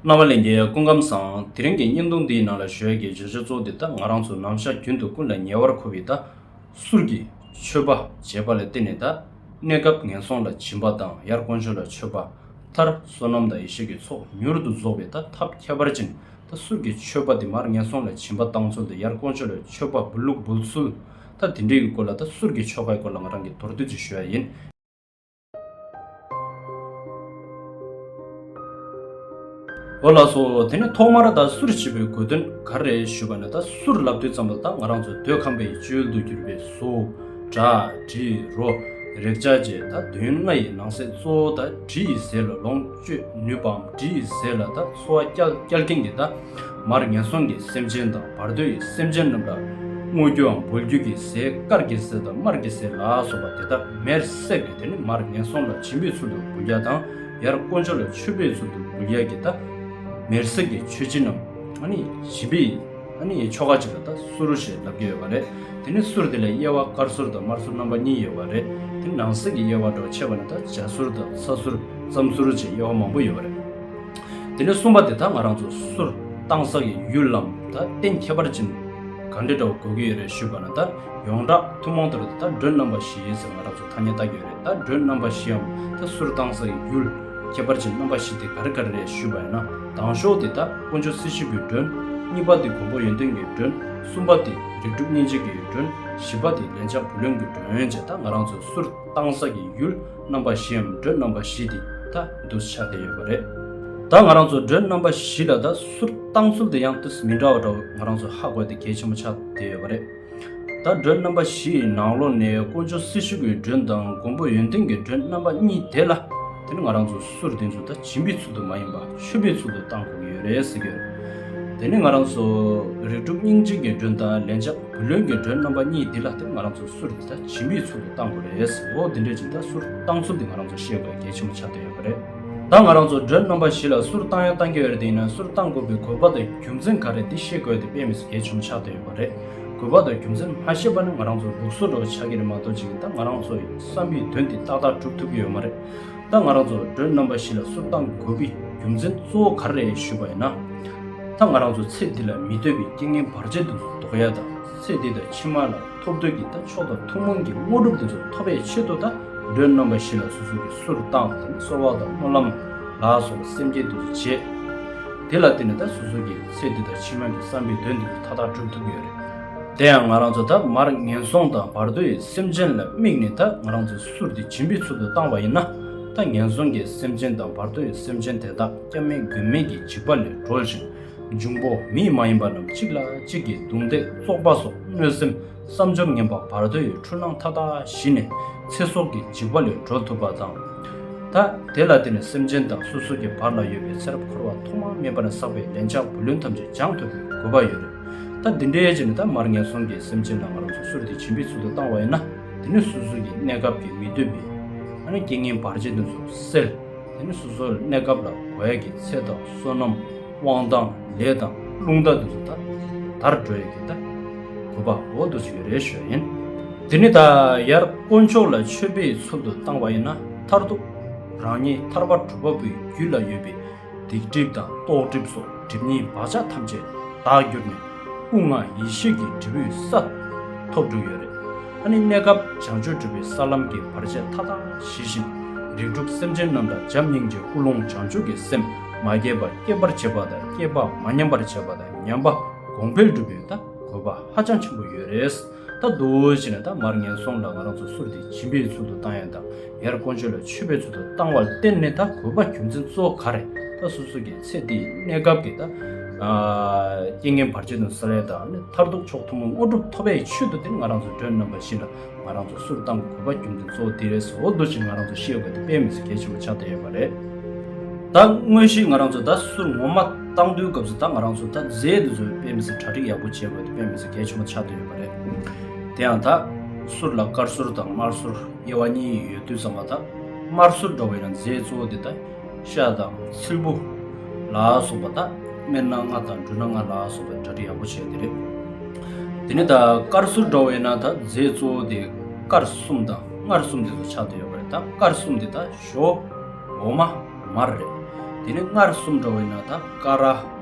རྣ་བ་ལེན་རྒྱའི་སྐུ་ཁམས་བཟང། དེ་རིང་གི་བརྙན་ཐུང་འདིའི་ནང་ལ་བཞོས་ཀྱི་བརྗོད་བྱ་གཙོ་བོ་འདི་ལྟ་ང་རང་ཚོ་ནམ་ཞར་རྒྱུན་དུ་ཀུན་ལ་ཉེ་བར་མཁོ་བའི་ད་གཟུར་གྱི་ཆོས་པ་བྱེས་པ་ལ་བརྟེན་ནས་ད་གནས་སྐབས་ངན་སོང་ལ་བྱིན་པ་དང་ཡར་དཀོན་མཆོག་ལ་ཆོས་པ་མཐར་བསོད་ནམས་དང་ཡེ་ཤེས་ཀྱི་ཚོགས་མྱུར་དུ་རྫོགས་པའི་ད་ཐབས་ཁྱད་པར་ཅན་ད་གཟུར་གྱི་ཆོས་པ་དེ་མར་ངན་སོང་ལ་བྱིན་པ་བཏང་ཚུལ་དང་ཡར་དཀོན་མཆོག་ལ་ཆོས་པ་འབུལ་ལུགས་འབུལ་ཚུལ་ད་དེ་འདྲའི་ཀྱི་སྐོར་ལ་ད་གཟུར་གྱི་ཆོ་གའི་སྐོར་ལ་ང་རང་གིས་མདོར་བསྡུས་ཀྱིས་བཞོས་ཡ་ཡིན། ཨོ་ལགས་སོ་དེ་ནི་ཐོག་མར་ད་གསུར་བྱེད་པའི་དགོས་དོན་ག་རེད་ཞུས་པ་ན་ད་གསུར་ལབ་དུས་ཙམ་ལ་ད་ང་རང་ཚོ་འདོད་ཁམས་པའི་བཅུད་དུ་གྱུར་པའི་སུ་དྲ་དྲི་རོ་རེག་བྱ་བཅས་ད་དོན་ལྔ་ཡི་ནང་གསེས་གཙོ་བོ་ད་དྲི་ཡི་ཟས་ལ་ལོངས། སྤྱོད་ནུས་པའམ་དྲི་ཡི་ཟས་ལ་དག་གསོ་བ་སྐྱལ་སྐྱལ་ཀེང་གི་དག་མར་ངན་སོང་གི་སེམས་ཅན་དང་བར་དོའི་སེམས་ཅན་རྣམས་ལ་བསྔོ་རྒྱུའམ་འབུལ་རྒྱུ་གི་ཟས་དཀར་གྱི་ཟས་དང་དམར་གྱི་ཟས་ལ་སོགས་པ་དེ་དག་མེར་བསྲེགས་ཏེ་དེ་ནི་མར་ངན་སོང་ལ་བྱིན་པའི་ཚུལ་དུ་འབུལ་བྱ་དང་ཡར་དཀོན་མཆོག་ལ་མཆོད་པའི་ཚུལ་དུ་འབུལ་བྱ་གྱི་དག་མེར་བསྲེགས་ཀྱི་མཆོད་སྦྱིན་ནམ། བྱིན་པའི། ཨ་ནི་ཡི་ཆོ་ག་ཅིག་ལ་ད་སུ་རུ་ཞེས་ལབ་ཀྱི་ཡོད་པ་རེད། དེ་ནི་སུར་དེ་ལས་དབྱེ་བ་དཀར་སུར་དང་དམར་སུར་རྣམ་པ་གཉིས་ཡོད་པ་རེད། དེ་ནང་གསེས་ཀྱི་དབྱེ་བ་འགྲོ་ཆེ་བ་ནི་ད་འཇའ་སུར་དང་ས་སུར། རྩམ་སུ་རུ་བཅས་དབྱེ་བ་མང་པོ་ཡོད་པ་རེད། དེ་ནི་གསུམ་པ་དེ་ད་ང་རང་ཚོ་སུར་བཏང་ས་ཀྱི་ཡུལ་ལམ་ད་གཏན་ཁྱད་པར་ཅན་ག་འདྲི་འདྲ་བོ་དགོས་ཀྱི་ཡོད་རེད་ཞུས་པ་ན་ད་ཡོངས་གྲགས་ཐུན་མོང་དུ་རེད་ད་འགྲོས་རྣམ་པ་བཞི་ཡོད་ཟེར་ང་རང་ཚོ་ཐ་སྙད་བཏགས་ཀྱི་ཡོད་རེད་ད་འགྲོས་རྣམ་པ་བཞིའམ་ད་སུར་བཏང་ས་ཀྱི་ཡུལ་ཁྱད་པར་ཅན་རྣམ་པ་བཞི་དེ་ག་རེ་ག་རེ་རེད་ཞུས་པ་ཡིན་ན། དང་ཞོག་དེ་དག་དཀོན་མཆོག་སྲིད་ཞིའི་བུའི་མགྲོན། གཉིས་པ་དེ་མགོན་པོ་ཡོན་ཏན་གྱི་མགྲོན། གསུམ་པ་དེ་རིགས་དྲུག་སྙིང་རྗེ་གྱི་མགྲོན། བཞི་པ་དེ་ལན་ཆགས་བུ་ལོན་གྱི་མགྲོན་བཅས་དག་ང་རང་ཚོའི་གསུར་བཏང་ས་ཀྱི་ཡུལ་རྣམ་པ་བཞིའམ་མགྲོན་རྣམ་པ་བཞི་དེ་དག་འདུས་ཆགས་ཏེ་ཡོད་པ་རེད། ད་ང་རང་ཚོ་མགྲོན་རྣམ་པ་བཞི་ལ་དག་གསུར་བཏང་ཚུལ་དེ་ཡང་དུས་མི་འདྲ་བ་འདྲ་བོ་ང་རང་ཚོས་ཧ་གོ་དེ་གལ་ཆེན་པོ་ཆགས་ཏེ་ཡོད་པ་རེད། ད་སྒྲོན་རྣམ་པ་བཞི་ཡི་ནང་ལོགས་ནས་ཀོང་ཇོ་སེར་ཤུལ་གྱི་སྒྲོན་དང་མགོན་པོ་ཡོན་ཏན་གྱི་སྒྲོན་རྣམ་པ་གཉིས་དེ་ལ། དེ་ནི་ང་རང་ཚོ་སུར་བསྟན་ཚོ་ད་བྱིས་འབའི་ཚུལ་དུ་མ་ཡིན་པ་ཆོས་འབའི་ཚུལ་དུ་བཏང་དགོས་ཀྱི་ཡོད་རེད་ཟེར་གྱི་ཡོད། དེ་ནི་ང་རང་ཚོ་རིགས་དྲུག་སྙིང་རྗེ་གྱི་སྒྲོན་དང་ལན་ཆགས་བུ་ལོན་གྱི་སྒྲོན་རྣམ་པ་གཉིས་དེ་ལ་དེ་ང་རང་ཚོ་སུར་དེ་ད་བྱིས་འབའི་ཚུལ་དུ་བཏང་དགོས་རེད་ཟེར་འོ་དེ་འདྲས་ཀྱི་ད་སུར་བཏང་ཚུལ་དེ་ང་རང་ཚོ་ཤེས་དགོས་གལ་ཆེན་པོ་ཆགས་བསྡད་ཡོད་པ་རེད། ད་ང་རང་ཚོ་སྒྲོན་རྣམ་པ་བཞི་ལ་སུར་བཏང་ཡང་བཏང་གི་ཡོད་རེད་དེ་ཡིན་ན་སུར་བཏང་དགོས་པའི་གོ་བབ་དང་རྒྱུ་མཚན་ག་རེད་འདི་ཤེས་དགོས་ཏེ་དཔེ་མི་སོ་གལ་ཆེན་པོ་ཆགས་བསྡད་ཡོད་པ། རེད། དགོས་པ་དང་རྒྱུ་མཚན་མ་ཤེས་པ་ནི་ང་རང་ཚོ་ལུགས་སྲོལ་འགྲོ་བ་ཆགས་ཀྱི་རེད་མ་གཏོགས་ཅིག་ད་ང་རང་ཚོ་ཡི་བསམ་པའི་དོན་དེ་ཏག་ཏག་གྲུབ་ཐུབ་ཀྱི་ཡོད་མ་རེད། ད་ང་རང་ཚོ་འགྲོའི་རྣམ་པ་བཞི་ལ་སུར་བཏང་དགོས་པའི་རྒྱུ་མཚན་གཙོ་བོ་ག་རེ་རེད་ཞུས་པ་ཡིན་ན། ད་ང་རང་ཚོ་ཚེ་འདི་ལ་མི་སྡོད་པའི་རྐྱེན་ངན་བར་ཆད་དེ་ཚོ་ཟློག་ཡ་ད་ཚེ་འདི་དང་ཕྱི་མ་ལ་ཐོབ་འདོད་ཀྱི་ད་མཆོག་དང་ཐུན་མོང་གི་དངོས་གྲུབ་དེ་ཚོ་ཐོབ་པའི་ཆེད་དུ་ད་འགྲོའི་རྣམ་པ་བཞི་ལ་སོ་སོ་གི་སུར་བཏང་དང་གསོལ་བ་དང་སྨོན་ལམ་ལ་སོགས་སེམས་བསྐྱེད་དེ་ཚོ་བྱེད། དེ་ལ་བརྟེན་ནས་ད་གཟོད་ཟུར་གྱི་ཚེ་འདི་དང་ཕྱི་མའི་བསམ་པའི་དོན་འདི་ལ་མཐའ་དག་འགྲུབ་ཐུབ་ཀྱི་ཡོད་རེད། དེ་ཡང་ང་རང་ཚོ་ད་མར་ངན་སོང་དང་བར་དོའི་སེམས་ཅན་ལ་དམིགས་ནས་ད་ང་རང་ཚོའི་ཟུར་འདི་བྱིན་པའི་ཚུལ་དུ་བཏང་བ་ཡིན་ན། ད་ངན་སོང་གི་སེམས་ཅན་དང་བར་དོའི་སེམས་ཅན་དེ་དག་སྐྱབས་མེད་མགོན་མེད་ཀྱི་འཇིགས་པ་ལས་གྲོལ་ཞིང་འབྱུང་པོ་མི་མ་ཡིན་པ་རྣམས་གཅིག་ལ་གཅིག་གིས་རྡུང་རྡེག་བཙོག་པ་སོགས་གནོད་སེམས་བསམ་འཇམ་ངན་པ་བར་དོ་ཡི་འཁྲུལ་སྣང་མཐའ་དག་ཞི་ནས་ཚེ་སྲོག་གི་འཇིགས་པ་ལས་གྲོལ་ཐུབ་པ་དང། ཐ་དད་ལ་བརྟེན་ནས་སེམས་ཅན་དང་སོ་སོ་གྱི་བར་ལ་ཡོད་པའི་ཚེ་རབས་འཁོར་བ་ཐོག་མར་མེད་པ་ནས་བསགས་པའི་ལན་ཆགས་བུ་ལོན་ཐམས་ཅད་སྦྱང་ཐུབ་པའི་དགོས་པ་ཡོད་རེད། ད་འདི་འདྲའི་རྗེས་ནས་ད་མར་ངན་སོང་གི་སེམས་ཅན་རྣམས་ང་རང་ཚོ་གསུར་དེ་བྱིན་པའི་ཚུལ་དུ་བཏང་བ་ཡིན་ན་དེ་ནི་སོ་སོ་ཀྱི་གནས་སྐབས་ཀྱི་མི་འདོད་པའི། ཨ་ནི་རྐྱེན་ངན་བར་ཆད་དེ་ཚོ་སེལ། དེ་ནི་སོ་སོ་གནས་སྐབས་ལ་གོ་ཡ་གྱི་ཚེ་དང་བསོད་ནམས། དབང་དང་ལས་དང་རླུང་རྟ་དུ་ཚོད་ད་དར་འགྲོ་ཡི་གེ་ད་གོ་པ་འོ་དུ་ཚོད་རེ་ཞོ་ཡིན། འདི་ནི་ད་ཡར་དཀོན་མཆོག་ལ་མཆོད་པའི་ཚུལ་དུ་བཏང་བ་ཡིན་ན་མཐར་ཐུག་རང་ཉིད་ཐར་པ་གྲུབ་པ་པོའི་རྒྱུད་ལ་ཡོད་པའི་སྡིག་སྒྲིབ་དང་རྟོག་སྒྲིབ་སོགས་སྒྲིབ་གཉིས་བག་ཆགས་ཐམས་ཅད་དག་གྱུར་ནས་སྐུ་ལྔ་ཡེ་ཤེས་ཀྱི་འབྲས་བུའི་ས་ཐོབ་འགྲོ་ཡོད་རེད། ད་ནི་གནས་སྐབས་བྱང་ཆུབ་སྒྲུབ་པའི་ས་ལམ་གྱི་བར་ཆད་མཐའ་དག་ཞི་ཞིང་རིགས་དྲུག་སེམས་ཅན་རྣམས་དང་བྱམས་སྙིང་རྗེ་ཀུན་སློང་བྱང་ཆུབ་ཀྱི་སེམས། མ་སྐྱེས་པ་སྐྱེད་པར་བྱེད་པ་དང་སྐྱེས་པ་མ་ཉམས་པར་བྱེད་པ་དང་ཉམས་པ་གོང་འཕེལ་སྒྲུབ་པའི་ད་གོ་བ་ཧ་ཅང་ཆེན་པོ་ཡོད་རེད། ད་གདུལ་བྱ་ནི་ད་མར་ངན་སོང་ལ་ང་རང་ཚོ་གསུར་ཏེ་འབྱིན་པའི་ཚུལ་དུ་བཏང་ཡང་དང་ཡར་ཀོང་ཇོ་ལ་མཆོད་པའི་ཚུལ་དུ་བཏང་བར་བརྟེན་ནས་ད་གོ་བ་རྒྱུ་མཚན་གཙོ་བོ་ག་རེད་ད་སོ་སོ་གའི་ཚེ་འདིའི་གནས་སྐབས་ཀྱི་ད་རྐྱེན་ངན་བར་ཆད་དང་ས་ལས་དང་ནི་མཐར་ཐུག་མཆོག་ཐུན་མོང་དངོས་གྲུབ་ཐོབ་པའི་ཆོས་དུ་འདིར་ང་རང་ཚོ་མགྲོན་རྣམ་པ་བཞི་ལ་ང་རང་ཚོ་སུར་བཏང་གི་གོ་བ་རྒྱུན་དུ་གཙོ་བོ་དེ་རེད་ཟེར་འོ་དོ་ཅིག་ང་རང་ཚོ་ཤེས་ཡོད་པ་དེ་དཔེ་མི་སྲིད་གལ་ཆེ་བོ་ཆགས་བསྡད་ཡོད་པ་རེད་ད། དངོས་གཞི་ང་རང་ཚོ་ད་སུར་ངོ་མ་བཏང་དུས་སྐབས་སུ་ད་ང་རང་ཚོ་ད་རྫས་འདི་ཚོ་དཔེ་མི་སྲིད་གྲ་སྒྲིག་ཡག་པོ་བྱེད་དགོས་དེ་དཔེ་མི་སྲིད་གལ་ཆེན་པོ་ཆགས་བསྡད་ཡོད་པ་རེད། དེ་ཡང་ད། སུར་ལ་དཀར་སུར་དང་དམར་སུར་དབྱེ་བ་གཉིས་ཡོད་དུས་ཚང་མ་ད་དམར་སུར་འགྲོ་བ་ཡིན་ན་རྫས་གཙོ་བོ་དེ་ད། ཤ་དང་སིལ་བུ། ལ་སོགས་པ་དག་སྨན་སྣ་ལྔ་དང་འབྲུ་སྣ་ལྔ་ལ་སོགས་པའི་གྲ་སྒྲིག་ཡག་པོ་བྱས་ཏེ་རེད། དེ་ནས་ད་དཀར་ཟུར་འགྲོ་བས་ན་ད་རྫས་གཙོ་བོ་དེ་དཀར་གསུམ་དང་མངར་གསུམ་དེ་ཚོ་ཆགས་ཏེ་ཡོད་པ་རེད་ད་དཀར་གསུམ་དེ་ད་ཞོ། འོ་མ། མར་རེད། དེ་ནས་མངར་གསུམ་འགྲོ་བས་ན་ད་ཀ་ར།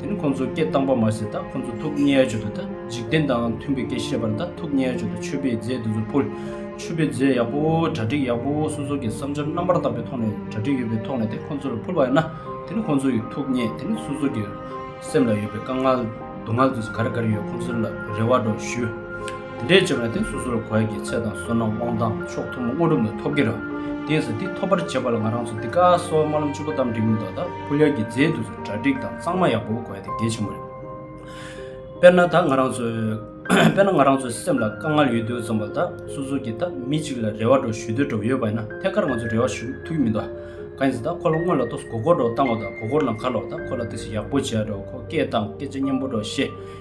དེ་ནི་ཁོ་ཚོ་སྐད་གཏང་པ་མ་ཟད་ད་ཁོ་ཚོ་ཐུགས་མཉེས་སྦྱོར་དུ་ད་འཇིག་རྟེན་དང་མཐུན་པའི་སྐད་བཤད་པར་ད་ཐུགས་མཉེས་སྦྱོར་དུ་མཆོད་པའི་རྫས་དེ་ཚོ་ཕུལ། མཆོད་པའི་རྫས་ཡག་པོ་གྲ་སྒྲིག་ཡག་པོ་སོ་སོ་གི་བསམ་འཆར་རྣམ་པར་དག་པའི་ཐོག་ནས་གྲ་སྒྲིག་ཡོད་པའི་ཐོག་ནས་དེ་ཁོ་ཚོར་ཕུལ་བ་ཡིན་ན་དེ་ནི་ཁོ་ཚོ་ཡི་ཐུགས་མཉེས་དེ་ནི་སོ་སོ་གི་སེམས་ལ་ཡོད་པའི་དཀའ་ངལ་སྡུག་བསྔལ་དེ་ཚོ་ག་རེ་ག་རེ་ཡོད་ཁོ་ཚོ་ལ་རེ་བ་དྲོ་ཞུ། དེ་འདྲས་བྱས་པ་ན་དེ་སོ་སོ་ལ་གོ་ཡ་གི་ཚད་དང་བསོད་ནམས་དབང་ཐང་མཆོག་ཐུན་མོང་དངོས་གྲུབ་ནི་ཐོབ་གི་རེད། དེ་ཡིན་ས་དེ་ཐོབ་པར་བྱེད་པ་ལ་ང་རང་ཚོ་འདི་ཀ་སོགས་སྨོན་ལམ་བཅུ་པོ་དམ་བསྒྲིགས་ནས་ད་ད་ཕུལ་ཡ་གི་རྫས་དེ་ཚོ། གྲ་སྒྲིག་དང་གཙང་མ་ཡག་པོ་དགོས་དེ་གལ་ཆེན་པོ་རེད། དཔེར་ན་ད་ང་རང་ཚོས་དཔེར་ན་ང་རང་ཚོའི་སེམས་ལ་དཀའ་ངལ་ཡོད་དུས་རྩོམ་པ་དག་སོ་སོ་གྱིས་ད་མི་གཅིག་ལ་རེ་བ་འགྲོ་ཞུ་འདོད་འགྲོ་ཡོད་པ་ཡིན་ན་ཐད་ཀར་ང་ཚོས་རེ་བ་ཞུ་ཐུག་གི་མི་འདུག་ག། ཡིན་ཟེར་ད་ཁོ་ལ་སྔོན་ལ་ཏོག་གོ་སྐོར་འགྲོ་བཏང་བ་དང་གོ་སྐོར་ལ་འགའ་ལོག་ད་ཁོ་ལ་ཏིག་སེ་ཡག་པོ་བྱས་འགྲོ་ཁོ་སྐད་དང་སྐད་ཆ་སྙན་པོ་འགྲོ་ཞེས།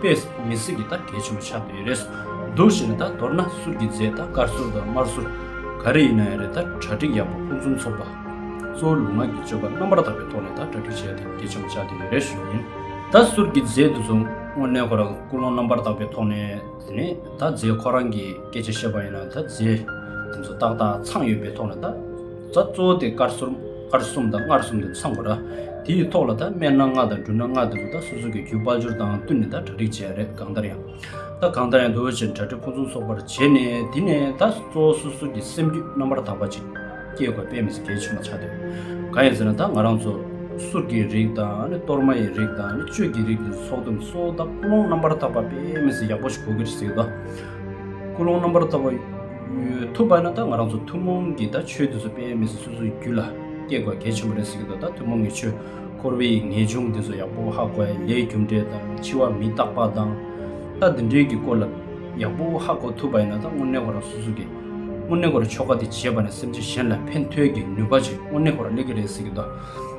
པས་མི་སྲིད་ཀྱི་ད་གལ་ཆེན་པོ་ཆགས་ཀྱི་རེད། སྡུག་བཞིན་ནི་ད་མདོར་ན་ཟུར་གྱི་རྫས་ད་དཀར་ཟུར་དང་དམར་ཟུར་ག་རེ་ཡིན་ན་ཡང་རེད་ད་གྲ་སྒྲིག་ཡག་པོ་ཕུན་སུམ་ཚོགས་པ། གཙོ་བོ་ལུས་ངག་གི་སྤྱོད་པ་རྣམ་པར་དག་པའི་ཐོག་ནས་ད་གྲ་སྒྲིག་བྱས་ན་ད་གལ་ཆེན་པོ་ཆགས་ཀྱི་རེད་ཞུ་ཡིན། ད་ཟུར་གྱི་རྫས་འདི་ཚོ་དངོས་གནས་ཁོ་རང་ཀུན་སློང་རྣམ་པར་དག་པའི་ཐོག་ནས་དེ་ནས་ད་རྫས་ཁོ་རང་གིས་སྐད་ཆ་བཤད་པ་ཡིན་ན་ད་རྫས་འདི་ཚོ་ཏག་ཏག་ཚང་ཡོད་པའི་ཐོག་ནས་ད། རྩ་གཙོ་བོ་དེ་དཀར་སོར་དཀར་གསུམ་དང་མངར་གསུམ་དུ་ཚང་བ་རེད། དེ་ཡི་ཐོག་ལ་ད་སྨན་སྣ་ལྔ་དང་འབྲུ་སྣ་ལྔ་དེ་ཚོ་ད་སོ་སོ་གི་རྒྱུ་སྤར་སྦྱོར་དང་བསྟུན་ནས་ད་གྲ་སྒྲིག་བྱས་རེད་གང་ལྟར་ཡང། ད་གང་ལྟར་ཡང་དེ་བས་ཕྱིར་གྲ་སྒྲིག་ཕུན་སུམ་ཚོགས་པར་བྱས་ནས་དེ་ནས་ད་གཙོ་བོ་སོ་སོ་གི་སེམས་རྒྱུད་རྣམ་པར་དག་པ་ཅིག་སྐྱེ་དགོས་དཔེ་མི་སྲིད་གལ་ཆེ་མ་ཆགས་དོན་གང་ཡིན་ཟེར་ན་ད་ང་རང་ཚོ་གསུར་གྱི་རིགས་དང་ནི་གཏོར་མ་ཡི་རིགས་དང་ནི་བཅོས་ཀྱི་རིགས་དེ་ཚོ་ཚོགས་དུས་སུ་ད་ཀུན་སློང་རྣམ་པར་དག་པ་དཔེ་མི་སྲིད་ཡག་པོ་ཞིག་གོ་གི་རེད་ཟེར་གི་ད། ཀུན་སློང་རྣམ་པར་དག་པ། ཐུབ་པ་ན་ད་ང་རང་ཚོ་ཐུན་མོང་གི་ད་ཆོས་འདི་ཚོ་དཔེ་མི་སྲིད་སོ་སོའི་རྒྱུད་ལ་སྐྱེ་དགོས་གལ་ཆེན་པོ་རེད་ཟེར་གི་འདུག་ད་ཐུན་མོང་གི་ཆོས་འཁོར་བའི་ངེས་འབྱུང་འདི་ཚོ་ཡག་པོ་ཧ་གོ་ལས་རྒྱུ་འབྲས་དང་འཆི་བ་མི་རྟག་པ་དང་ད་འདི་འདྲའི་གི་སྐོར་ལ་ཡག་པོ་ཧ་གོ་ཐུབ་པ་ཡིན་ན་ད་དངོས་གནས་ཁོ་རང་སོ་སོ་གི་དངོས་གནས་ཁོ་རང་ཆོ་ག་འདི་བྱེད་པ་ནས་སེམས་ཅན་གཞན་ལ་ཕན་ཐོས་ཀྱི་ནུས་པ་ཅིག་དངོས་གནས་ཁོ་རང་སླེབས་ཀྱི་རེད་ཟེར་གི་འདུག།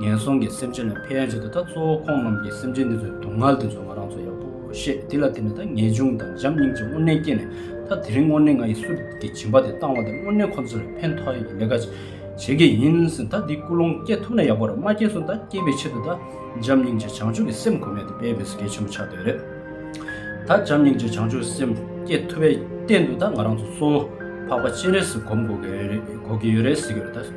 ངན་སོང་གི་སེམས་ཅན་ལ་ཕན་བྱེད་དེ་དག་གཙོ་བོ་ཁོང་རྣམས་ཀྱིས་སེམས་ཅན་འདི་ཚོའི་སྡུག་བསྔལ་འདི་ཚོ་ང་རང་ཚོ་ཡག་པོ་ཤེས་དེ་ལ་བརྟེན་ནས་ད་ངེས་འབྱུང་དང་འཇམ་སྙིང་རྗེ་དངོས་གནས་སྐྱེས་ནས་ད་དེ་རིང་དངོས་གནས་ང་ཡི་གསུར་གྱི་སྦྱིན་པ་དེ་བཏང་བ་དེ་དངོས་གནས་ཁོང་ཚོ་ལ་ཕན་ཐོགས་ཡོད་ཀྱི་ལས་ཀ་བྱེད་ཀྱི་ཡིན་ཟིན་ད་འདི་ཀུན་སློང་སྐྱེ་ཐུབ་ན་ཡག་པོ་རེད་མ་སྐྱེས་སོང་ད་སྐྱེས་པའི་ཕྱིར་དུ་ད་འཇམ་སྙིང་རྗེ་བྱང་ཆུབ་ཀྱི་སེམས་གོ་མེད་དེ་དཔལ་བེ་སི་གེ་ཆེན་པོ་ཆགས་འདོད་རེད་ད་འཇམ་སྙིང་རྗེ་བྱང་ཆུབ་ཀྱི་སེམས་སྐྱེས་ཐུབ་པའི་རྟེན་དུ་ད་ང་རང་ཚོ་གཙོ་བོ་འཕགས་པ་སྤྱན་རས་གཟིགས་སྒོམ་དགོས་ཀྱི་ཡོད་རེད་ཟེར་གྱི་ཡོད་རེད་ཟེར་གྱི་རེད་ད།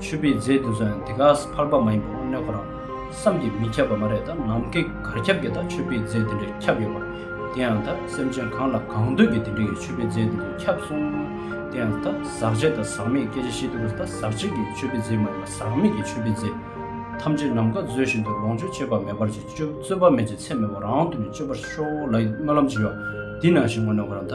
ཆོས་པའི་རྫས་དེ་ཚོ་ཡང་དེ་ག་ས་ཕར་པ་མ་ཡིན་པ་དངོས་གནས་ཁོ་རང་བསམ་གྱིས་མི་ཁྱབ་པ་མ་རེད་ད་ནམ་མཁའི་གར་ཁྱབ་ཀྱི་ད་ཆོས་པའི་རྫས་དེ་འདྲས་ཁྱབ་ཡོད་པར་དེ་ཡང་ད་སེམས་ཅན་གང་ལ་གང་འདོད་ཀྱི་དེ་འདྲས་ཀྱི་ཆོས་པའི་རྫས་དེ་ཚོ་ཁྱབ་སོང་དེ་ཡང་ད་ཟག་བྱེད་ད་ཟག་མེད་སྐད་ཆ་བཤད་དུས་ཀྱི་ད་ཟག་བྱེད་ཀྱི་ཆོས་པའི་རྫས་མ་ཡིན་པ་ཟག་མེད་ཀྱི་ཆོས་པའི་རྫས་ཐམས་ཅད་ནམ་མཁའ་མཛོད་བཞིན་དུ་ལོངས་སྤྱོད་ཅེས་པ་མེད་པར་གྱིས་རྩོད་པ་མེད་ཀྱི་ཚད་མེད་པ་རང་དུ་ནས་སྤྱོད་པར་ཤོག་ལ་ཡི་སྨོན་ལམ་བགྱི་བ་འདི་ནང་བཞིན་དངོས་གནས་ཁོ་རང་ད།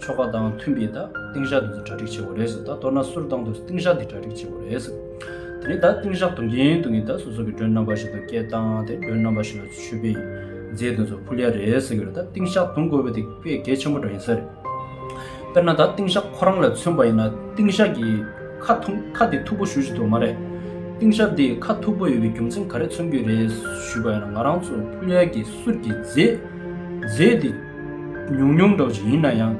ཆོ་ག་དང་མཐུན་པའི་ད་ཏིང་ཞག་དེ་ཚོ་གྲ་སྒྲིག་བྱེད་དགོས་རེད་ཟེར་ད་མདོར་ན་སུར་བཏང་དུས་ཏིང་ཞག་དེ་གྲ་སྒྲིག་བྱེད་དགོས་རེད་ཟེར་དེ་ནས་ད་ཏིང་ཞག་དུང་གིན་དུང་གིན་ད་སོ་སོ་གི་མགྲོན་རྣམ་པ་ཞིག་དང་སྐད་བཏང་དེ་མགྲོན་རྣམ་པ་ཞིག་ལ་ཆོས་དཔེ་ཡིན་རྫས་དེ་ཚོ་ཕུལ་ཡ་རེད་ཟེར་གི་རེད་ད་ཏིང་ཞག་དུང་དགོས་པ་དེ་དཔེ་གལ་ཆེན་པོ་འདྲ་ཡིན་ས་རེད། དཔེར་ན་ད་ཏིང་ཞག་ཁོ་རང་ལ་མཚོན་པ་ཡིན་ན་ཏིང་ཞག་གིས་ཁ་ཐུང་ཁ་དེ་མཐུག་པོ་ཞུ་བཞིན་འདུག་མ་རེད། ཏིང་ཞག་དེས་ཁ་མཐུག་པོ་ཡོད་པའི་རྒྱུ་མཚན་ག་རེ་མཚོན་གྱི་རེད་ཞུས་པ་ཡིན་ན་ང་རང་ཚོ་ཕུལ་ཡ་གི་སུར་གྱི་རྫས་རྫས་དེ། ཉུང་ཉུང་འདྲ་བོ་ཞིག་ཡིན་ན་ཡང།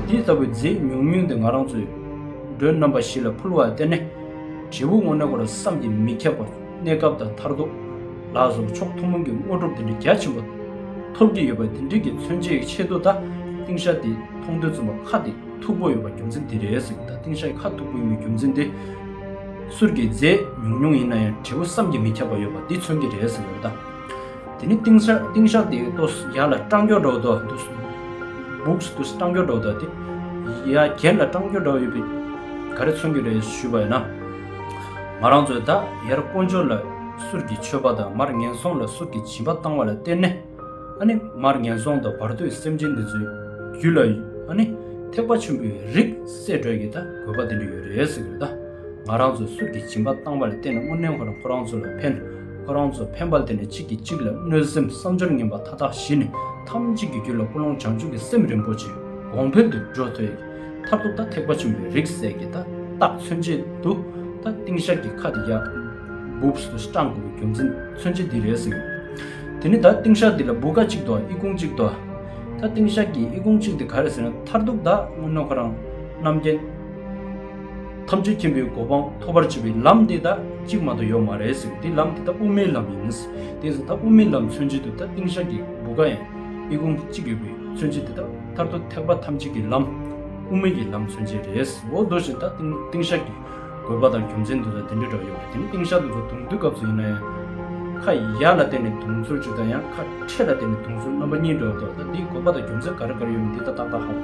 འདི་ལྟ་བུའི་རྫས་ཉུང་ཉུང་འདི་ང་རང་ཚོའི། མགྲོན་རྣམ་པ་བཞི་ལ་ཕུལ་བར་བརྟེན་ནས། དྲིལ་བུ་དངོས་གནས་སྐོར་བསམ་གྱིས་མི་ཁྱབ་པ། གནས་སྐབས་དང་མཐར་ཐུག་ལ་སོགས་ཕྱོགས་ཐུན་མོང་གི་དངོས་གྲུབ་དེ་འདྲའི་རྒྱ་ཆེན་པོ། ཐོབ་ཀྱི་ཡོད་པ་འདི་འདྲིས་ཀྱི་མཚོན་བྱེད་ཆེད་དུ་ད་ཏིང་ཤ་འདི་མཐོང་དུས་རྩོམ་པ་ཁ་འདི་མཐུག་པོ་ཡོད་པ་རྒྱུ་མཚན་འདི་རེད་ཟེར་གྱི་ད་ཏིང་ཤ་ཡི་ཁ་མཐུག་པོ་ཡིན་པའི་རྒྱུ་མཚན་འདི། གསུར་གྱི་རྫས་ཉུང་ཉུང་ཡིན་ན་ཡང་དྲིལ་བུ་བསམ་གྱིས་མི་ཁྱབ་པ་ཡོད་པ་འདི་མཚོན་གྱི་རེད་ཟེར་བའི་ད། དེ་ནི་ཏིང་ཤ་ཏིང་ཤ་དེ་ཏོ་ཡར་ལ་སྤྲང་སྐྱོ་འདྲ་བོ་དོ་འདུག་འབུག་སུ་ཏུ་སྤྲང་སྐྱོ་འདྲ་བོ་དོ་དེ་ཡ་གྱལ་ལ་སྤྲང་སྐྱོ་འདྲ་བོ་ཡོད་པའི་ག་རེ་མཚོན་གྱི་རེད་ཞུས་པ་ཡིན་ན། ང་རང་ཚོས་ད་ཡར་དཀོན་མཆོག་ལ་གསུར་གྱི་མཆོད་པ་དང་མར་ངན་སོང་ལ་གསུར་གྱི་བྱིན་པ་བཏང་བ་ལ་བརྟེན་ནས་ཨ་ནི་མར་ངན་སོང་དང་བར་དོའི་སེམས་ཅན་འདི་ཚོའི་རྒྱུད་ལ་ཨ་ནི་ཐེག་པ་ཆེན་པོའི་རིགས་སད་གྲོལ་གྱི་ད་དགོས་པ་དེ་འདྲ་ཡོད་རེད་ཟེར་གྱི་རེད་ད་ང་རང་ཚོས་གསུར་གྱི་བྱིན་པ་བཏང་བ་ལ་བརྟེན་ནས་དངོས་གནས་ཁོ་རང་ཁོ་རང་ཚོ་ལ་ཕན་ཁོ་རང་ཚོ་ཕན་པ་དེ་ནས་གཅིག་གིས་གཅིག་ལ་གནོད་སེམས་བསམ་སྦྱོར་ངན་པ་མཐའ་དག་ཞི་ནས་ཐམས་ཅད་ཀྱི་རྒྱུད་ལ་ཀུན་སློང་བྱང་ཆུབ་ཀྱི་སེམས་རིན་པོ་ཆེ་གོང་འཕེལ་དུ་འགྲོ་ཐོས་ཀྱི་མཐར་ཐུག་ད་ཐེག་པ་ཆེན་པོའི་རིགས་གསལ་གྱི་ད་རྟགས་མཚོན་བྱེད་དུ་ད་ཏིང་ཤར་གྱི་ཁ་དེ་ཡར་སྦུབས་སུ་སྐྲངས་དགོས་པའི་རྒྱུ་མཚན་མཚོན་བྱེད་འདི་རེད་ཟེར། དེ་ནས་ད་ཏིང་ཤར་འདི་ལ་སྦུ་ག་གཅིག་དང་ཨི་ཁུང་གཅིག་ཏུ་ད་ཏིང་ཤར་གྱི་ཨི་ཁུང་གཅིག་དེ་ག་རེ་ཟེར་ན་མཐར་ཐུག་ད་སྔོན་ན་ཁོ་རང་རྣམ་རྒྱལ། ཐམས་ཅད་མཁྱེན་པའི་གོ་འཕང་ཐོབ་པར་བྱེད་པའི་ལམ་འདི་དག་གཅིག་མ་གཏོགས་ཡོད་མ་རེད་ཟེར་དེ་ལམ་འདི་དག་དབུ་མའི་ལམ་ཡིན་ཟེར་དེ་ཟེར་ད་དབུ་མའི་ལམ་མཚོན་བྱེད་དུ་ད་ཏིང་ཞག་གི་བུ་ག་ཡང་ཨི་ཁུང་གཅིག་ཡོད་པའི་མཚོན་བྱེད་དེ་དག་མཐར་ཐུག་ཐེག་པ་ཐམས་ཅད་ཀྱི་ལམ་དབུ་མའི་ཡི་ལམ་མཚོན་བྱེད་རེད་ཟེར་འོ་དོ་བཞིན་ད་ཏིང་ཞག་གི་དགོས་པ་དང་རྒྱུ་མཚན་དེ་དག་དེ་འདྲའི་དྲག་ཡོད་རེད་དེ་ནི་ཏིང་ཞག་དེ་ཚོ་དུང་དུལ་སྐབས་སུ་ཡིན་ན་ཡང་ཁ་ཡག་ལ་བརྟེན་ནས་དུང་ཚོར་བྱེད་ད་ཡང་ཁ་ཕྲད་ལ་བརྟེན་ནས་དུང་ཚོར་རྣམ་པ་གཉིས་འདྲ་བ་དག་ད་འདིའི་དགོས་པ་དང་རྒྱུ་མཚན་ག་རེ་ག་རེ་ཡོད་མེད་དེ་དག་ཏག་ཏག་ཧ་གོ་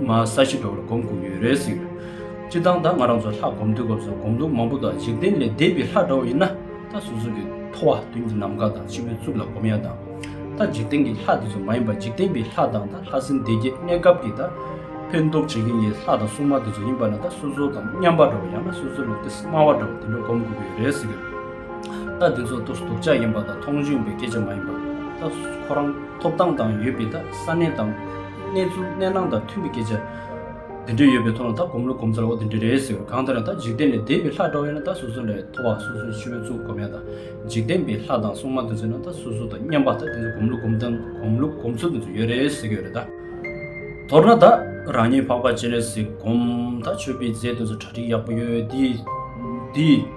ང་ས་གཞི་འགྲོ་བར་སྒོམ་བསྒུག་ཡོད་རེད་ཟེར་གི་འདུག་སྤྱིར་བཏང་ད་ང་རང་ཚོ་ལྷ་སྒོམ་དུས་སྐབས་སུ་སྒོམ་ལུགས་མང་པོ་དང་འཇིག་རྟེན་ལས་འདས་པའི་ལྷ་འདྲ་བོ་ཡིན་ན་ད་གཟུགས་གཟུགས་ཀྱི་ཐོ་བ་དོན་གྱི་ནམ་མཁའ་དང་སྤྱི་བོའི་གཙུག་ལ་སྒོམ་ཡ་དང། ད་འཇིག་རྟེན་གྱི་ལྷ་དེ་ཚོ་མ་ཡིན་པར་འཇིག་རྟེན་པའི་ལྷ་དང་ད་ལྷ་སྲིན་སྡེ་བརྒྱད་གནས་སྐབས་ཀྱི་ད་ཕན་འདོགས་བྱེད་མཁན་གྱི་ལྷ་དང་སྲུང་མ་དེ་ཚོ་ཡིན་པ་ན་ད་སོ་སོ་དང་མཉམ་པ་འདྲ་བོ་ཡང་ན་སོ་སོ་ལས་ཏི་སེ་དམའ་བ་འདྲ་བོ་དེ་འདྲ་སྒོམ་བསྒུག་ཡོད་རེད་ཟེར་གི་འདུག་ད་དེ་ཚོ་ཏོ་སྡུག་ཅག་ཡིན་པ་དང་མཐོང་ཆུང་བའི་སྐད་ཆ་མ་ཡིན་པར་ད་ཁོ་རང་ཐོབ་ཐང་དང་ཡོད་པའི་ད་ས་གནས་དང། གནས་ཚུལ་གནས་སྣང་དང་མཐུན་པའི་སྐད་ཆ། དེ་འདྲ་ཡོད་པའི་ཐོག་ལ་ད་སྒོམ་ལུགས་སྒོམ་ཚར་འོ་དེ་འདྲ་རེད་ཟེར་བས་གང་ལྟར་ན་ད་འཇིག་རྟེན་ལས་འདས་པའི་ལྷ་འདྲ་བོ་ཡོད་ན་ད་སོ་སོ་ལས་མཐོ་བ་སོ་སོའི་ཕྱི་རོལ་གཙུག་སྒོམ་ཡང་དང་འཇིག་རྟེན་པའི་ལྷ་དང་སྲུང་མ་དེ་ཚོ་ཡོད་ན་ད་སོ་སོ་དང་མཉམ་པ་ད་དེ་ཚོ་སྒོམ་ལུགས་སྒོམ་སྟངས་སྒོམ་ལུགས་སྒོམ་ཚུལ་དེ་ཚོ་ཡོད་རེད་ཟེར་གྱི་ཡོད་རེད་ད། མདོར་ན་ད་རང་ཉིད་འཕགས་པ་སྤྱན་རས་གཟིགས་སྒོམ་ད་ཆོས་པའི་རྫས་དེ་ཚོ་གྲ་སྒྲིག་ཡག་པོ་ཡོད་དེ།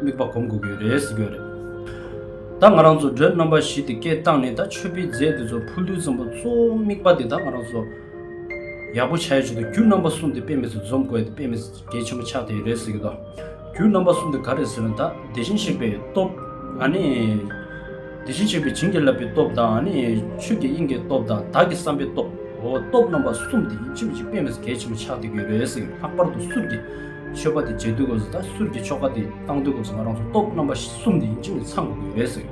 དམིགས་པ་གོམས་དགོས་ཀྱི་རེད་ཟེར་གྱི་ཡོད་རེད། ད་ང་རང་ཚོ་སྒྲོལ་རྣམ་པ་བཞི་དེ་སྐད་བཏང་ནས་ད་ཆོས་པའི་རྫས་དེ་ཚོ་ཕུ་ལུའི་ཙམ་པོ་གཙོ་བོ་དམིགས་པ་དེ་ད་ང་རང་ཚོ་ཡག་པོ་བྱ་ཡོད་ཆེད་དུ་རྒྱུ་རྣམ་པ་གསུམ་དེ་དཔེ་མེད་ཚོ་འཛོམས་དགོས་ཡོད་དེ་དཔེ་མེད་ཚོ་གལ་ཆེན་པོ་ཆགས་བསྡད་ཡོད་རེད་ཟེར་གྱི་འདུག་རྒྱུ་རྣམ་པ་གསུམ་དེ་ག་རེད་ཟེར་ན་ད་བདེ་ཆེན་གཤེགས་པའི་སྟོབས་ཨ་ནི། བདེ་ཆེན་གཤེགས་པའི་བྱིན་གྱིས་བརླབས་པའི་སྟོབས་དང་ཨ་ནི། ཆོས་ཀྱི་དབྱིངས་ཀྱི་སྟོབས་དང་བདག་གི་བསམ་པའི་སྟོབས། འོ་སྟོབས་རྣམ་པ་གསུམ་དེ་ཡིན་གཅིག་མ་གཅིག་དཔེ་མེད་ཚོ་གལ་ཆེན་པོ་ཆགས་བསྡད་ཀྱི་ཡོད་རེད་ཟེར་གྱི་ལྷག་པར་དུ་གསུར་གྱི། ཆོས་པ་དེ་རྗེས་དུས་སྐབས་སུ་ད་གསུར་གྱི་ཆོ་ག་དེ་བཏང་དུས་སྐབས་སུ་ང་རང་ཚོ་སྟོབས་རྣམ་པ་གསུམ་དེ་ཡིན་ཅིག་ནས་ཚང་དགོས་ཀྱི་རེད་ཟེར།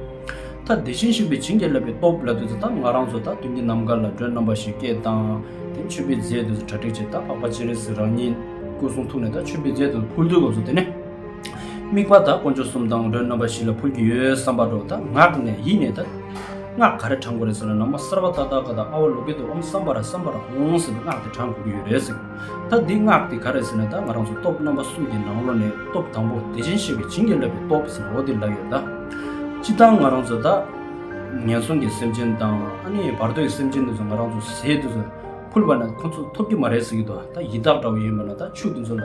ད་བདེ་ཆེན་ཞིང་པའི་བྱིན་གྱིས་བརླབས་པའི་སྟོབས་ལ་དུས་སུ་ད་ང་རང་ཚོ་ད་དུས་འདི་ནམ་མཁའ་ལ་སྒྲོན་རྣམ་པ་ཞིག་སྐད་བཏང། དེ་མཆོད་པའི་རྫས་དུས་སུ་གྲ་སྒྲིག་བྱས་ད་འཕགས་པ་སྤྱན་རས་གཟིགས་རང་ཉིད་སྐུ་གསུང་ཐུགས་ནས་ད་མཆོད་པའི་རྫས་དུས་སུ་ཕུལ་དུས་སྐབས་སུ་དེ་ནས་དམིགས་པ་ད་དཀོན་མཆོག་གསུམ་དང་སྒྲོན་རྣམ་པ་བཞི་ལ་ཕུལ་གྱི་ཡོད་བསམ་པ་འགྲོ་ད་ངག་ནས་ཡིད་ནས་ད་སྔགས་ག་རེ་བགྲང་དགོས་རེད་ཟེར་ན་ནང་མ་གསར་པ་ཏག་ཏག་གི་ད་ཨ་བ་ལུག་གི་དུ་འོང་བསམ་པ་ར་བསམ་པ་ར་འོང་ཟེར་བའི་སྔགས་དེ་བགྲང་དགོས་ཀྱི་ཡོད་རེད་ཟེར། ད་འདི་སྔགས་འདི་ག་རེད་ཟེར་ན་ད་ང་རང་ཚོ་སྟོབས་རྣམ་པ་གསུམ་གྱི་ནང་ལོ་ནས་སྟོབས་དང་པོ་བདེ་ཆེན་ཞེས་པའི་བྱིན་གྱིས་བརླབས་པའི་སྟོབས་ཟེར་ན་འོ་དེ་ལ་ཡོད་ད། སྤྱི་བཏང་ང་རང་ཚོ་ད། ངན་སོང་གི་སེམས་ཅན་དང་ཨ་ནི་བར་དོའི་སེམས་ཅན་དེ་ཚོ་ང་རང་ཚོ་ཟས་དེ་ཚོ་ཕུལ་བ་ན་ཁོ་ཚོ་ཐོབ་ཀྱི་མ་རེད་ཟེར་གྱི་འདུག་ད་ཡི་དྭགས་འདྲ་བོ་ཡིན་པ་ན་ད་ཕྱུགས་དེ་ཚོ་ལ།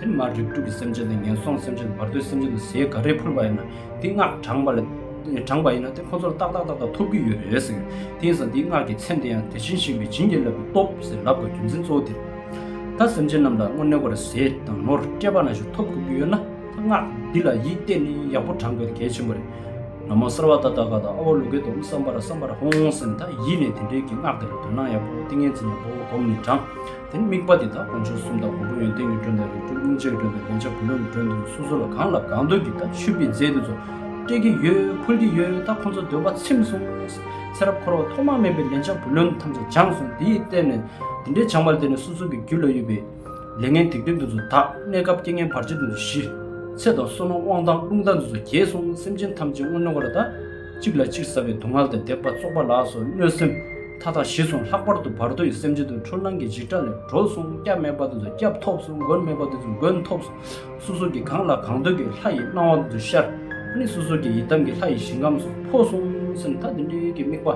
དེ་ནི་མར་རིགས་དྲུག་གི་སེམས་ཅན་དང་ངན་སོང་སེམས་ཅན་དང་བར་དོའི་སེམས་ཅན་དུ་ཟས་ག་རེ་ཕུལ་བ་ཡིན་ན་དེའི་སྔགས་དྲངས་པ་ལ་དྲངས་པ་ཡིན་ན་དེ་ཁོ་ཚོར་ཏག་ཏག་ཏག་ཏག་ཐོབ་ཀྱི་ཡོད་རེད་ཟེར། དེང་སང་དེའི་སྔགས་ཀྱི་མཚན་དེ་ཡང་དེ་བཞིན་གཤེགས་པས་བྱིན་གྱིས་བརླབས་པའི་སྟོབས་ཟེར་ལབ་དགོས་རྒྱུ་མཚན་གཙོ་བོ་དེ་རེད། ད་སེམས་ཅན་རྣམས་ལ་སྔོན་ནས་བར་ཟས་དང་ནོར་སྤྲད་པ་ན་ཞིག་ཐོབ་དགོས་ཀྱི་ཡོད་ན་ད་སྔགས་འདི་ལ་ཡིད་གཏད་ནས་ཡག་པོ་དྲངས་དགོས་ད་གལ་ཆེན་པོ་རེད། ན་མོ་གསར་བ་ཏ་ཏ་ག་ད་ཨ་བ་ལུ་གའི་དོམ་བསམ་པར་བསམ་པར་ཧོང་ཧོང་སེམས་ད་ཡིད་ནས་དེ་འདྲའི་གི་སྔགས་དེ་ལ་དོན་སྣང་ཡག་པོ་ཏིང་ངེ་འཛིན་ཡག་པོ་བསྒོམས་ནས་དྲངས། དེ་ནི་དམིགས་པ་འདི་དག་དཀོན་མཆོག་གསུམ་དང་དགུ་པོ་ཡོན་ཏན་གྱི་མགྲོན་དང་རིགས་དྲུག་ལྷུང་བཟེད་ཀྱི་མགྲོན་དང་ལན་ཆགས་བུ་ལོན་གྱི་མགྲོན་དུ་སོ་སོ་ལ་གང་ལ་གང་འདོད་ཀྱི་དང་ཆུད་པའི་རྫས་དེ་ཚོ་སྤྲད་ཀྱི་ཡོད་འཕུལ་གྱི་ཡོད་ད་ཁོ་ཚོ་འདོད་པ་ཚིམས་སོང། ཚེ་རབས་འཁོར་བ་ཐོག་མ་མེད་པའི་ལན་ཆགས་བུ་ལོན་ཐམས་ཅད་སྦྱངས་སོང་དེ་ཡིས་བརྟེན་ནས་དེ་འདྲའི་བྱང་བར་བརྟེན་ནས་སོ་སོ་གྱི་རྒྱུད་ལ་ཡོད་པའི། ལས་ངན་སྡིག་སྒྲིབ་དེ་ཚོ་དག་གནས་སྐབས་རྐྱེན་ངན་བར་ཆད་དེ་ཚོ་ཞི། ཚེ་དང་བསོད་ནམས་དབང་ཐང་རླུང་རྟ་འདི་ཚོ་རྒྱས་སོང་སེམས་ཅན་ཐམས་ཅད་སྔོན་མྱོང་བ་ལ་དང། གཅིག་ལ་གཅིག་ཟ་བའི་སྡུག་བསྔལ་དང་དད་པ་བཙོག་པ་ལགས་སོ་གནོད་སེམས། མཐའ་དག་ཞི་སོང་ལྷག་པར་དུ་བར་དོ་ཡི་སེམས་ཅན་དུ་འཁྲུལ་སྣང་གི་འཇིགས་སྐྲག་ལས་གྲོལ་སོང་སྐྱབས་མེད་པ་དེ་ཚོ་སྐྱབས་ཐོབ་སོང་མགོན་མེད་པ་དེ་ཚོ་མགོན་ཐོབ་སོང་སོ་སོ་གིས་གང་ལ་གང་འདོད་ཀྱི་ལྷ་ཡི་སྣང་བ་དེ་ཚོ་ཤར་ནས་སོ་སོ་གི་ཡི་དམ་གྱི་ལྷ་ཡི་ཞིང་ཁམས་སུ་འཕོ་སོང་སེམས་ཐག་འདི་འདྲའི་གི་དམིགས་པ་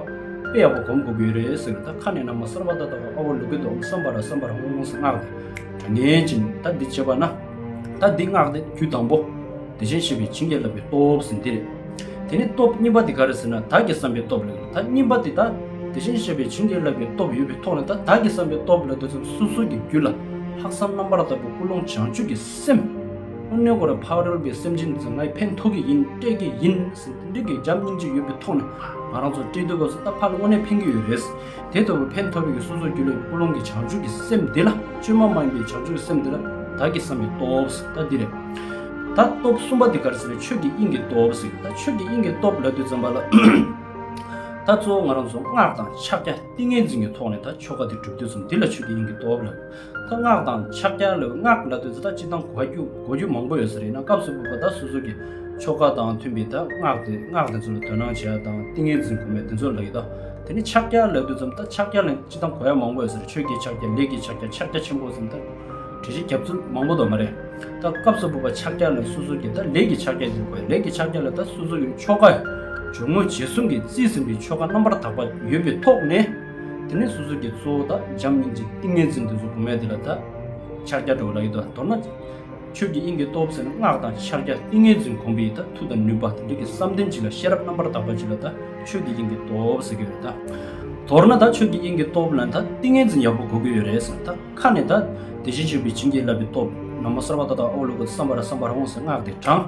དཔེ་ཡག་པོ་གོམས་དགོས་ཀྱི་ཡོད་རེད་ཟེར་ད་ཁ་ནས་ནང་མ་གསར་བ་ད་ལྟ་བ་ཨ་བ་ལུག་གི་འདུག་བསམ་པ་ར་བསམ་པ་ར་ངོ་ངོ་སངས་སྔགས་དེ་ངན་ཅིང་ད་འདི་བྱེད་པ་ན་ད་འདི་སྔགས་དེ་དུས་དང་པོ། བདེ་ཆེན་བྱེད་པའི་བྱིན་གྱིས་བརླབས་པའི་སྟོབས་སུ་འདིར། དེ་ནི་སྟོབས་རྙིང་པ་འདི་ག་རེ་ཟེར་ན་བདག་གི་བསམ་པའི་སྟོབས་ལས་ད་རྙིང་པ་འདི་དང་བདེ་ཆེན་བྱེད་པའི་བྱིན་གྱིས་བརླབས་པའི་སྟོབས་ཡོད་པའི་ཐོག་ནས་ད་བདག་གི་བསམ་པའི་སྟོབས་ལས་འདོད་ཚུལ་སོ་སོ་ཀྱི་རྒྱུད་ལ་ལྷག་བསམ་རྣམ་པར་དག་པའི་ཀུན་སློང་བྱང་ཆུབ་ཀྱི་སེམས། ཀུན་གནས་གོ་ར་འཕགས་རོལ་པའི་སེམས་ཅན་ཚོ་ངའི་ཕན་ཐོགས་ཀྱི་ཡིན་སྤྲད་ཀྱི་ཡིན་ཟེར་ཏེ་འདྲི་དགོས་རྒྱབ་སྙིང་རྗེ་ཡོད་པའི་ཐོག་ནས་ང་རང་ཚོ་སྤྲད་དུས་སྐབས་སུ་ད་ཕར་དངོས་གནས་ཕན་གྱི་ཡོད་རེད། དེ་ལྟ་བུའི་ཕན་ཐོགས་པའི་གསུང་སོགས་རྒྱུད་བླ་ཡི་ཀུན་སློང་གི་བྱང་ཆུབ་ཀྱི་སེམས་འདི་ལ་བཅོས་མ་མ་ཡིན་པའི་བྱང་ཆུབ་ཀྱི་སེམས་འདི་ལ་བདག་གིས་བསམས་པའི་སྟོབས་ད་འདི་རེད། ད་སྟོབས་གསུམ་པ་འདི་གར་ཟེར་བའི་ཆོས་ཀྱི་དབྱིངས་ཀྱི་སྟོབས་ཟེར་གྱི་ད་ཆོས་ཀྱི་དབྱིངས་ཀྱི་སྟོབས་ལ་དུས་བརྩམས་པ་ལ། ད་གཙོ་བོ་ང་རང་ཚོ་སྔགས་དང་ཕྱག་རྒྱ་ཏིང་ངེ་འཛིན་གྱི་ཐོག་ནས་ད་ཆོ་ག་འདི་གྲུབ་དུས་བརྩམས་འདི་ལ་ཆོས་ཀྱི་དབྱིངས་ཀྱི་སྟོབས་ལ། ལྷ་སྔགས་དང་ཕྱག་རྒྱ་ལས་སྔགས་ལ་དོན་ཚོད་ལྟ་ཅི་དང་གོ་རྒྱུ་མང་པོ་ཡོད་ས་རེད་ན་སྐབས་སུ་བབ་པ་དག་སོ་སོ་གི་ཆོ་ག་དང་མཐུན་པའི་དག་སྔགས་དེ་སྔགས་དེ་ཚོ་ལ་དོན་སྣང་བྱེད་ཡ་དང་ཏིང་ངེ་འཛིན་གོ་མའི་དོན་ཚོད་ལ་ཡི་དྭགས་དེ་ནས་ཕྱག་རྒྱ་ལས་དོན་ཚོད་ལྟ་ཕྱག་རྒྱ་ལས་ཅི་དང་གོ་ཡ་མང་པོ་ཡོད་ས་རེད་ཆོས་རྒྱལ་ཕྱག་རྒྱ་ལས་ཀྱི་ཕྱག་རྒྱ་ཕྱག་རྒྱ་ཆེན་པོ་ཚོད་ལྟ་གྲི་བཞི་རྒྱབ་ཚུལ་མང་པོ་དོ་མ་རེད་ད་སྐབས་སུ་བབ་པ་ཕྱག་རྒྱ་ལས་སོ་སོ་གི་དག་ལས་ཀྱི་ཕྱག་རྒྱ་དེ་གོ་ཡ་ལས་ཀྱི་ཕྱག་རྒྱ་ལ་དག་སོ་སོ་གི་ཆོ་ག་ཡོད་ངོ་རྗེས་གསུམ་གི་རྩིས་ཟིན་པའི་ཆོ་ག་རྣམ་པར་དག་པ་ཡོད་པའི་ཐོག་ནས། དེ་ནས་སོ་སོ་ཀྱི་གཙོ་བོ་དག་འཇམ་སྙིང་རྗེ་ཏིང་ངེ་འཛིན་དུ་གཟུགས་བུམ་མེད་དེ་ལ་དག། ཕྱག་རྒྱ་གྲོལ་བ་ལ་ཡོད་དོ་མདོར་ན། ཆོས་ཀྱི་དབྱིངས་ཀྱི་སྟོབས་ཟེར་ན་སྔགས་དང་ཕྱག་རྒྱ་ཏིང་ངེ་འཛིན་གོམས་པའི་ཡིད་དང་མཐུ་དང་ནུས་པ་དེ་དག་གིས་བསམ་གཏན་གཅིག་ལ་ཤེས་རབ་རྣམ་པར་དག་པ་གཅིག་ལ་དག་ཆོས་ཀྱི་དབྱིངས་ཀྱི་སྟོབས་ཟེར་གྱི་ཡོད་དོ། མདོར་ན་དག་ཆོས་ཀྱི་དབྱིངས་ཀྱི་སྟོབས་ལ་དག་ཏིང་ངེ་འཛིན་ཡག་པོ་གོ་གི་ཡོད་རེད་ཟེར་ན་དག་ཁ་ནས་དག་དེ་བཞིན་གཤེགས་པའི་བྱིན་གྱིས་བརླབས་པའི་སྟོབས་ན་མོ་གསར་བ་ཏག་ཏག་ཨོ་ལོ་ཀོ་བསམ་པར་བསམ་པར་འོང་ཟེར་སྔགས་དེ་དྲངས།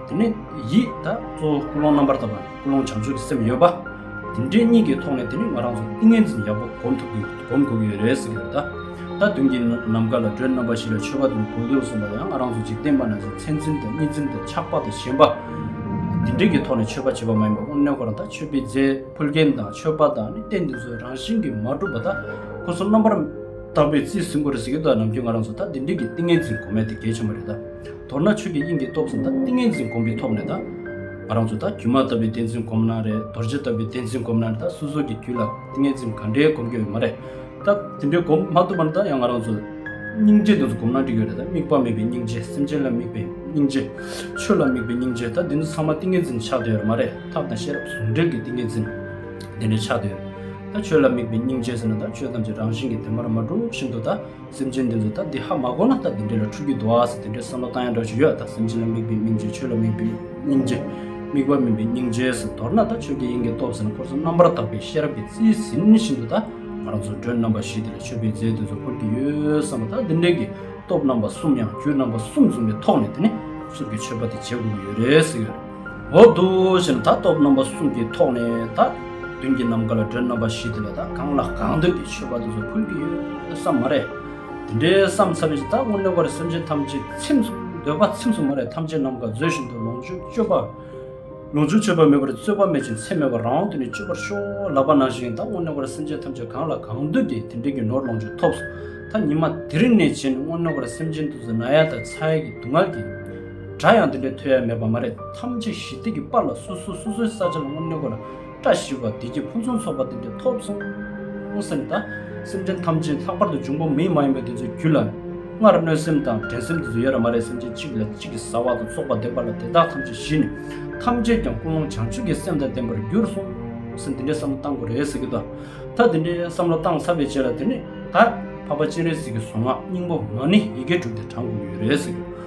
དེ་ནས་ཡིད་དག་གཙོ་བོ་ཀུན་སློང་རྣམ་པར་དག་པ། ཀུན་སློང་བྱང་ཆུབ་ཀྱི་སེམས་ཡོད་པ། འདི་འདྲའི་གཉིས་ཀྱི་ཐོག་ནས་དེ་ནི་ང་རང་ཚོར་ཏིང་ངེ་འཛིན་ཡག་པོ་སྒོམ་ཐུབ་དགོས་སྒོམ་དགོས་ཀྱི་རེད་ཟེར་གྱི་ཡོད། ད་དུང་གི་ནམ་མཁའ་ལ་སྒྲོན་རྣམ་པ་བཞི་ལ་མཆོད་པ་དང་གུར་གདུགས་གསུངས་པ་ཡང་ང་རང་ཚོ་འཇིག་རྟེན་པ་ན་ཚོའི་མཚན་འཛིན་དང་གཉིས་འཛིན་དང་ཆགས་པ་དང་ཞེན་པ། འདི་འདྲའི་གི་ཐོག་ནས་མཆོད་པ་བྱེད་པ་མ་ཡིན་པ་དངོས་གནས་ཁོ་རང་ད་མཆོད་པའི་རྫས་ཕུལ་མཁན་དང་མཆོད་པ་དང་ནི་རྟེན་འདི་ཚོའི་རང་བཞིན་གྱིས་མ་གྲུབ་པ་ད་ཁོ་ཚོ་རྣམ་པར་དག་པའི་རྩིས་ཟིན་དགོས་རེད་ཟེར་གྱི་འདུག་ནམ་རྒྱུན་ང་རང་ཚོ་ད་འདི་འདྲའི་གི་ཏིང་ངེ་འཛིན་གོ་མེད་དེ་གལ་ཆེན་པོ་རེད། མདོར་ན་ཆོས་ཀྱི་དབྱིངས་ཀྱི་སྟོབས་ཙམ་དང་ཏིང་ངེ་འཛིན་སྒོམ་པའི་ཐོག་ནས་དང། རང་ཚུལ་དང་སྒྱུ་མ་ལྟ་བུའི་བདེན་རྫུན་སྒོམ་ན་རེད་རྡོ་རྗེ་ལྟ་བུའི་བདེན་རྫུན་སྒོམ་ན་རེད་ད་སོ་སོ་གྱི་རྒྱུད་ལ་ཏིང་ངེ་འཛིན་ག་འདྲའི་སྒོམ་རྒྱུ་ཡོད་མ་རེད་ད། དེ་འདྲའི་སྒོམ་མ་ཐུབ་པ་ན་ད་ཡང་ང་རང་ཚོ། སྙིང་རྗེ་དེ་ཚོ་སྒོམ་ན་འགྲིག་གི་རེད་ད་དམིགས་པ་མེད་པའི་སྙིང་རྗེ་སེམས་ཅན་ལ་དམིགས་པའི་སྙིང་རྗེ། ཆོས་ལ་དམིགས་པའི་སྙིང་རྗེ་ད་འདི་ཚོ་ཚང་མ་ཏིང་ངེ་འཛིན་ཆགས་བསྡད་ཡོད་མ་རེད་ཐབས་དང་ཤེས་རབ་ཟུང་འབྲེལ་གྱི་ཏིང་ངེ་འཛིན། དེ་འདྲ་ཆགས་བསྡད་ཡོད་རེད་ད། ཆོས་ལ་དམིགས་པའི་སྙིང་རྗེ་ཟེར་ན་ད་ཆོས་ཐམས་ཅད་རང་བཞིན་གྱིས་དེ་མར་མ་གྲུབ་བཞིན་དུ་ད། སེམས་ཅན་འདི་ཚོ་ད་འདི་ཧ་མ་གོ་ན་ད་འདི་འདྲ་ལ་འཁྲུལ་རྒྱུ་འདུག་ཨ་ཟེར་འདི་འདྲའི་བསམ་བློ་བཏང་ཡ་འདྲ་ཞིག་ཡོད་ད་སེམས་ཅན་ལ་དམིགས་པའི་སྙིང་རྗེ་ཆོས་ལ་དམིགས་པའི་སྙིང་རྗེ། དམིགས་པ་མིན་པའི་སྙིང་རྗེ་ཟེར་མདོར་ན་ད་ཆོས་རྒྱལ་ཡིན་གྱི་སྟོབས་ཟེར་ན་འཁོར་ཚོགས་རྣམ་པར་དག་པའི་ཤེས་རབ་ཀྱི་རྩིས་ཟིན་བཞིན་དུ་ད་ང་རང་ཚོ་མགྲོན་རྣམ་པ་བཞི་འདི་ལ་མཆོད་པའི་རྫས་འདི་ཚོ་འཁོར་གྱི་ཡོད་བསམ་པ་ད་འདི་འདྲའི་གི་སྟོབས་རྣམ་པ་གསུམ་ཡང་རྒྱུད་རྣམ་པ་གསུམ་འཛོམས་པའི་ཐོག་ནས་དེ་ནི་ཚུར་གྱི་མཆོད་པ་དེ་བྱེད་དགོས་ཀྱི་ཡོད་རེད་ཟེར་གྱི་ཡོད། འོག་ཏུ་ཞེ་ན་ད་སྟོབས་རྣམ་པ་གསུམ་གྱི་ཐོག་ནས་ད་གདོན་གྱི་ནམ་མཁའ་ལ་སྒྲོན་རྣམ་པ་བཞི་དེ་ལ་ད་གང་ལ་གང་འདོད་ཀྱི་མཆོད་པ་དེ་ཚོ་ཕུལ་གྱི་ཡོད་བསམ་མ་རེད། དེ་འདྲའི་བསམ་ཚར་རྗེས་ད་སྔོན་གནས་བར་སེམས་ཅན་ཐམས་ཅད་ཚིམས་སོ་འདོད་པ་ཚིམས་སོ་མ་རེད་ཐམས་ཅད་ནམ་མཁའ་མཛོད་བཞིན་དུ་ལོངས་སྤྱོད་སྤྱོད་པ། ལོངས་སྤྱོད་སྤྱོད་པ་མེད་པར་རྩོད་པ་མེད་ཅིང་ཚེགས་མེད་པར་རང་དབང་དུ་ནི་སྤྱོད་པར་ཤོག་ལབ་པ་ནང་བཞིན་ད་སྔོན་གནས་བར་སེམས་ཅན་ཐམས་ཅད་གང་ལ་གང་འདོད་དེ་དེ་འདྲའི་གྱི་ནོར་ལོངས་སྤྱོད་ཐོབ་སོ་ད་ཉི་མ་དེ་རིང་ནས་བྱས་ནས་སྔོན་གནས་བར་སེམས་ཅན་དུ་ཟ་ན་ཡ་དང་ཚ་ཡ་གྱི་སྡུག་བསྔལ་གྱི་སྒྲ་ཡང་དེ་འདྲའི་ཐོས་ཡ་མེད་པ་མ་རེད་ཐམས་ཅད་ཞི་བདེ་གི་པར་ལ་སོ་སོ་སོ་སོའི་ས་ཆ་ལ་སྔོན་གནས་སྐོར་བཀྲ་ཤིས་པ་བདེ་སྐྱིད་ཕུན་སུམ་ཚོགས་པ་དེ་འདྲའི་ཐོབ་སོང་སེམས་དང་སེམས་ཅན་ཐམས་ཅད་ལྷག་པར་དུ་འབྱུང་པོ་མི་མ་ཡིན་པ་དེ་ཚོའི་རྒྱུད་ལ་སྔར་གནོད་སེམས་དང་འགྲན་སེམས་དེ་ཚོ་ཡོད་ར་མ་རེད་སེམས་ཅན་གཅིག་ལས་གཅིག་གིས་ཟ་བ་དང་བཙོག་པ་འདེབས་པ་ལ་དེ་དག་ཐམས་ཅད་ཞི་ནས་ཐམས་ཅད་ཀྱང་ཀུན་སློང་བྱང་ཆུབ་ཀྱི་སེམས་དང་ལྡན་པར་འགྱུར་སོང་སེམས་དེ་འདྲའི་བསམ་བློ་བཏང་དགོས་རེད་ཟེར་གྱི་དོ་ད་དེ་འདྲའི་བསམ་བློ་བཏང་ཚར་བའི་རྗེས་ལ་དེ་ནས་ད་ཕ་པ་སྤྱན་རས་གཟིགས་ཀྱི་གཟུངས་སྔགས་སྙིང་པོ་མ་ཎི་ཡི་གེ་དྲུག་དེ་དྲངས་དགོས་ཀྱི་ཡོད་རེད་ཟེར་གྱི།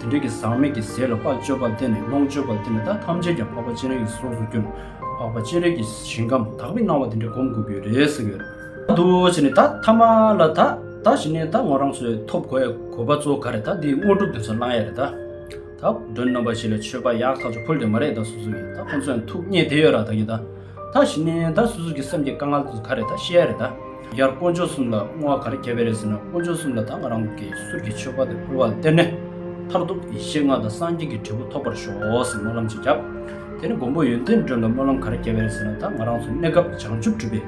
དེ་འབྲས་ཀྱི་ཟག་མེད་ཀྱི་ཟས་ལ་དཔའ་སྤྱོད་པ་བརྟེན་ནས་ལོངས་སྤྱོད་པ་བརྟེན་ནས་ད་ཐམས་ཅད་ཀྱང་འཕགས་པ་སྤྱན་རས་ཀྱི་ཚོགས་སུ་གྱུར་ནས་འཕགས་པ་སྤྱན་རས་ཀྱི་ཞིང་ཁམས་དག་པའི་སྣང་བ་དེ་འདྲས་བསྒོམ་དགོས་ཀྱི་རེད་ཟེར་གྱི་ཡོད། ད་དུ་ཕྱི་ནས་ད་ཐ་མ་ལ་ད་ད་ཕྱི་ནས་ད་ངོ་རང་ཚོའི་ཐོབ་གོ་ཡའི་གོ་བ་གཙོ་ག་རེད་ད་འདིའི་དངོས་གྲུབ་དེ་ཚོ་བླང་ཡ་རེད་ད། ད་བུ་སྒྲོན་རྣམ་པ་བཞི་ལས་ཆོས་པ་ཡག་ཐག་ཆོད་ཕུལ་དེ་མ་རེད་ད་སུ་སུ་ཡིན་ད་ཁོང་ཚོའང་ཐུགས་མཉེས་དེ་ཡོད་ར་ད་གིས་ད། ད་ཞི་ནས་ད་སོ་སོ་གི་སེམས་ཀྱི་དཀའ་ངལ་དུ་ག་རེ་ད་ཤེས་ཡ་རེད་ད། ཡར་དཀོན་མཆོག་གསུམ་ལ་བསྔོ་བ་ག་རེ་བརྒྱབ་ཡ་རེད་ཟེར་ན་དཀོན་མཆོག་གསུམ་ལ་ད་ང་རང་གི་གསུར་གྱི་མཆོད་པ་དེ་ཕུལ་བ་ལ་སྟེར་ནས། མཐར་ཐུག་ཡེ་ཤེས་ལྔ་དང་སངས་རྒྱས་ཀྱི་འབྲས་བུ་ཐོབ་པར་ཤོག་ཟེར་སྨོན་ལམ་ཅིག་བརྒྱབ། དེ་ནས་མགོན་པོ་ཡོན་ཏན་སྒྲོན་ལ་སྨོན་ལམ་ག་རེ་བརྒྱབ་ཡ་རེད་ཟེར་ན་ད་ང་རང་ཚོ་གནས་སྐབས་བྱང་ཆུབ་སྒྲུབ་པའི་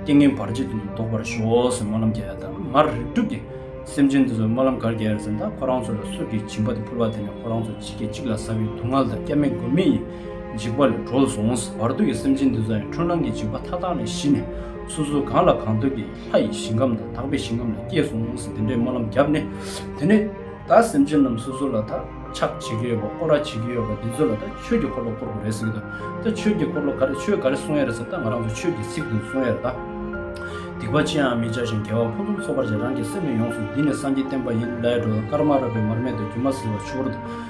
ཏིང་ངེ་འབར་རྗེས་བདུན་དུ་ལྡོག་པར་ཤོག་ཟེར་སྨོན་ལམ་བརྒྱབ་ཡ་ད་མར་རིགས་དྲུག་གི་སེམས་ཅན་དེ་ཚོར་སྨོན་ལམ་ག་རེ་བརྒྱབ་ཡ་རེད་ཟེར་ན་ད་ཁོ་རང་ཚོ་ལ་གསུར་གྱི་བྱིན་པ་དེ་ཕུལ་བ་དེ་ནས་ཁོ་རང་ཚོ་ཇི་སྐད་ཅིག་ལ་ཟ་བའི་སྡུག་བསྔལ་དང་སྐྱབས་མེད་མགོན་མེད་ཡིན། འཇིགས་པ་ལས་གྲོལ་སོང་ཟེར་བར་དུ་ཡི་སེམས་ཅན་འདི་ཙམ་ཡང་འཁྲུལ་སྣང་གི་འཇིགས་པ་མཐའ་དག་ནས་ཞི་ནས་སོ་སོ་གང་ལ་གང་འདོད་ཀྱི་ལྷ་ཡི་ཞིང་ཁམས་དང་དག་པའི་ཞིང་ཁམས་ལ་སྐྱེས་སོང་ཟེར་འདི་འདྲའི་སྨོན་ལམ་བརྒྱབ་ནས་དེ་ནས་ད་སེམས་ཅན་རྣམས་སོ་སོ་ལ་ད་ཕྱག་བྱེད་ཀྱི་ཡོད་པ་བསྐོར་ར་བྱེད་ཀྱི་ཡོད་པ་འདི་ཚོ་ལ་ད་ཆོས་ཀྱི་འཁོར་ལོ་བསྐོར་དགོས་རེད་ཟེར་གྱི་འདུག་ད་ཆོས་ཀྱི་འཁོར་ལོ་ག་རེ་ཆོས་ག་རེ་གསུང་ཡ་རེད་ཟེར་ད་ང་རང་ཚོ་ཆོས་ཀྱི་ཚིག་དེ་གསུང་ཡ་རེད་ད། སྡིག་པ་ཅི་ཡང་མི་བྱ་ཞིང་དགེ་བ་ཕུན་སུམ་ཚོགས་པར་བྱས་རང་གི་སེམས་ནི་ཡོངས་སུ་བསྡུས་ནས་སངས་ཀྱིས་བསྟན་པ་ཡིན་ལས་གྲོལ་དཀར་དམར་རགས་པའི་མར་མེ་དང་སྒྱུ་མ་ཟིལ་བ་ཆུ་བུར་དང།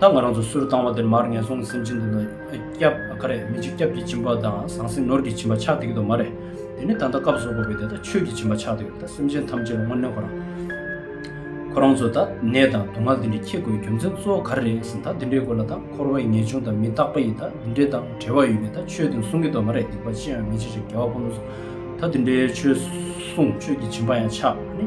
ད་ང་རང་ཚོ་སུར་བཏང་བ་དེར་མར་ངན་སོང་གི་སེམས་ཅན་དེ་དག་ཁ་རས་མི་འཇིགས་སྐྱབས་ཀྱི་བྱིན་པ་དང་ཟང་ཟིང་ནོར་གྱི་བྱིན་པ་ཆགས་ཏེ་གི་དོ་མ་རེད། དེ་ནི་ད་ལྟ་སྐབས་སོག་པོ་བས་དེ་དག་ཆོས་ཀྱི་བྱིན་པ་ཆགས་ཏེ་གི་ད་སེམས་ཅན་ཐམས་ཅད་ལ་དངོས་གནས་ཁོ་རང། ཁོ་རང་ཚོ་ད་ནད་དང་སྡུག་བསྔལ་འདི་འདྲའི་ཁྱད་དགོས་རྒྱུ་མཚན་གཙོ་བོ་ག་རེ་རེད་ཟིན་ད་འདི་འདྲའི་སྐོར་ལ་ད་འཁོར་བའི་ངེས་འབྱུང་དང་མི་རྟག་པ་ཡི་ད་འདི་འདྲའི་དང་བྲལ་བ་ཡོད་པས་ད་ཆོས་དེང་གསུང་གི་དོ་མ་རེད་སྡིག་པ་ཅི་ཡང་མི་བྱེད་ཅིག་རྒྱལ་བ་ཕོ་མོ་ཚོ་ད་འདི་འདྲའི་ཆོས་གསུང་ཆོས་ཀྱི་བྱིན་པ་ཡང་ཆགས་ནི།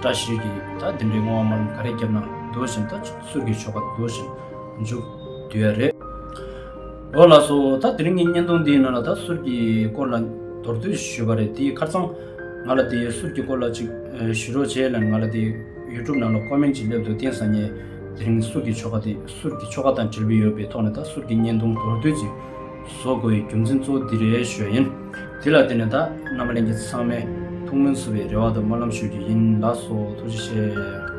བཀྲ་ཤིས་ཀྱི་ད་འདི་འདྲའི་སྔོ་བ་མར་ལམ་ག་རེ་བརྒྱབ་ན་འདོད་བཞིན་ད་ཚུར་གྱི་ཆོ་ག་འདོད་བཞིན་འཇུག་དུས་ཡ་རེད། འོ་ལགས་སོ་ད་དེ་རིང་གི་བརྙན་ཐུང་འདིའི་ནང་ལ་ད་ཟུར་གྱི་སྐོར་ལ་མདོར་བསྡུས་ཞུས་པ་རེད་དེའི་ཁར་ཚང་ང་ལ་དེའི་ཟུར་གྱི་སྐོར་ལ་ཅིག་ཞུ་རོགས་བྱས་ལན་ང་ལ་དེ YouTube ནང་ལ Comment ཅིག་སླེབས་འདུག་བསྟན་བཟང་ངས་དེ་རིང་ཟུར་གྱི་ཆོ་ག་དེ་ཟུར་གྱི་ཆོ་ག་དང་འབྲེལ་བུ་ཡོད་པའི་ཐོག་ནས་ད་ཟུར་གྱི་བརྙན་ཐུང་མདོར་བསྡུས་ཅིག་བཟོ་དགོས་པའི་རྒྱུ་མཚན་གཙོ་བོ་འདི་རེད་ཞུ་ཡ་ཡིན། དེ་ལ་བརྟེན་ནས་ད་རྣམ་པ་གླེང་མཁན་ཚང་མས་ཐུགས་སྨོན་འཚོ་བའི་རེ་བ་དང་སྨོན་ལམ་ཞུ་རྒྱུ་ཡིན་ལགས་སོ་ཐུགས་རྗེ་ཆེ།